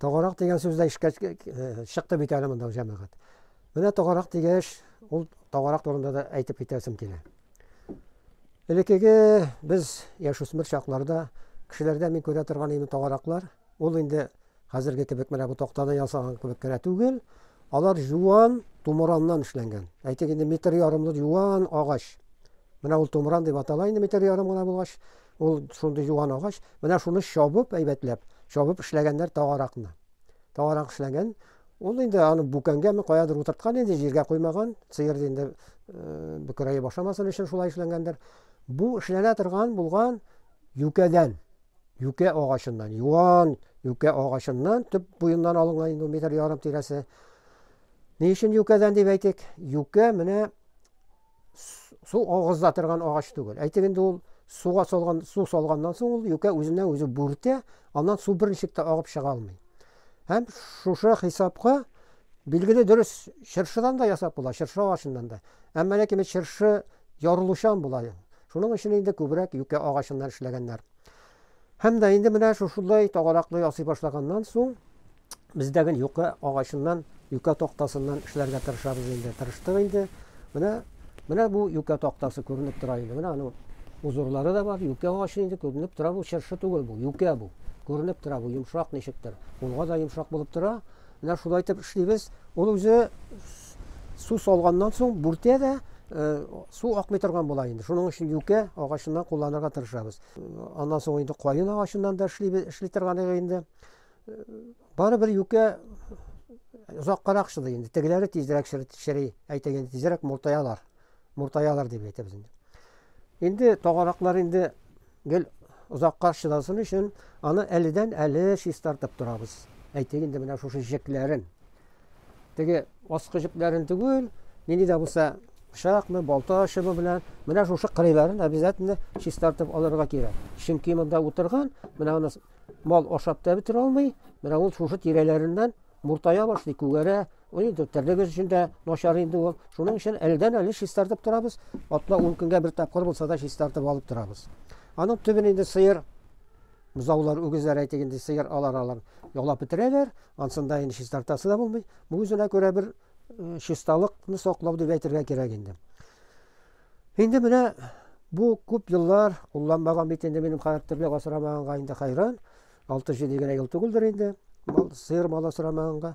Тогарак дигән сүз дә ишкә чыкты бит әле монда җәмәгать. Менә тогарак дигәч, ул тогарак турында да әйтеп китәсем килә. Элеккеге без яшүсмер чакларда кешеләрдә мин күрә торган инде тогараклар, ул инде хәзерге кебек менә бу тактадан ясалган кебек кенә түгел, алар юан тумыраннан эшләнгән. Әйтик инде метр ярымлы юан агач. Менә ул тумыран дип атала инде метр ярым гына булгач, Ул шундый юан агач, менә шуны чабып әйбәтләп, чабып эшләгәннәр тагаракны. Тагарак эшләгән. Ул инде аны бүкәнгәме каядыр утырткан инде, җиргә куймаган. Сыер инде э, бөкерәе башамасын өчен шулай эшләнгәндер. Бу эшләнә торган булган юкәдән, юкә агачыннан, юан юкә агачыннан төп буеннан алынган инде метр ярым тирәсе. Ни өчен юкәдән дип әйтик? Юкә менә су агыза торган агач түгел. Әйтик инде ул суга салган, су салганнан соң ул юкә үзенә үзе бүртә, аннан су берничек тә агып чыга алмый. Һәм шушы хисапка билгеле дөрес чыршыдан да ясап була, чыршы агачыннан да. Әмма ләкин бит чыршы ярылучан була. Шуның өчен инде күбрәк юкә агачыннан эшләгәннәр. Һәм дә инде менә шушылай тагараклы ясый башлаганнан соң Без дә гел юка агачыннан, юка тактасыннан эшләргә тырышабыз инде. Тырыштык инде. Менә менә бу юка тактасы күренеп тора инде. Менә аның узурлары да бар. Юка агачы инде күренеп тора бу чыршы түгел бу, юка бу. Күренеп тора бу, йомшак ничектер. Кулга да йомшак булып тора. Менә шулай итеп эшлибез. Ул үзе су салганнан соң бүртә дә Э, су акмый торган була инде шуның өчен юкә агачыннан кулланырга тырышабыз аннан соң инде каен агачыннан да эшли эшли торган инде Барыбер юкә озаккарак шылый инде. Тегеләре тизрәк шыри, әйтәк инде тизрәк муртаялар. Муртаялар дип әйтәбез инде. Инде тагараклар инде гел озакка шыласын өчен аны әледән әле чистартып торабыз. Әйтәк инде менә шушы җекләрен. Теге аскы җепләрен түгел, нинди дә булса пычакны, балта шыбы белән менә шушы кырыйларын обязательно чистартып алырга кирәк. Чөнки монда утырган, менә аны Мал ашап та бетерә алмый, менә ул шушы тирәләреннән муртая башлый, күгәрә. Ул инде терлегез өчен дә начар инде ул. Шуның өчен әледән-әле чистартып торабыз. Атна-ун көнгә бер тапкыр булса да чистартып алып торабыз. Аның төбен инде сыер, бозаулар, үгезләр әйтик инде, сыер алар алар ялап бетерәләр. Ансын да инде чистартасы да булмый. Бу үзенә күрә бер чисталыкны саклау дип әйтергә кирәк инде. Инде менә бу күп еллар кулланмаган бит инде минем хәрәптерлек асрамаганга инде хәйран. 6-7 генә ел түгелдер инде мал сыер мал асрамаганга.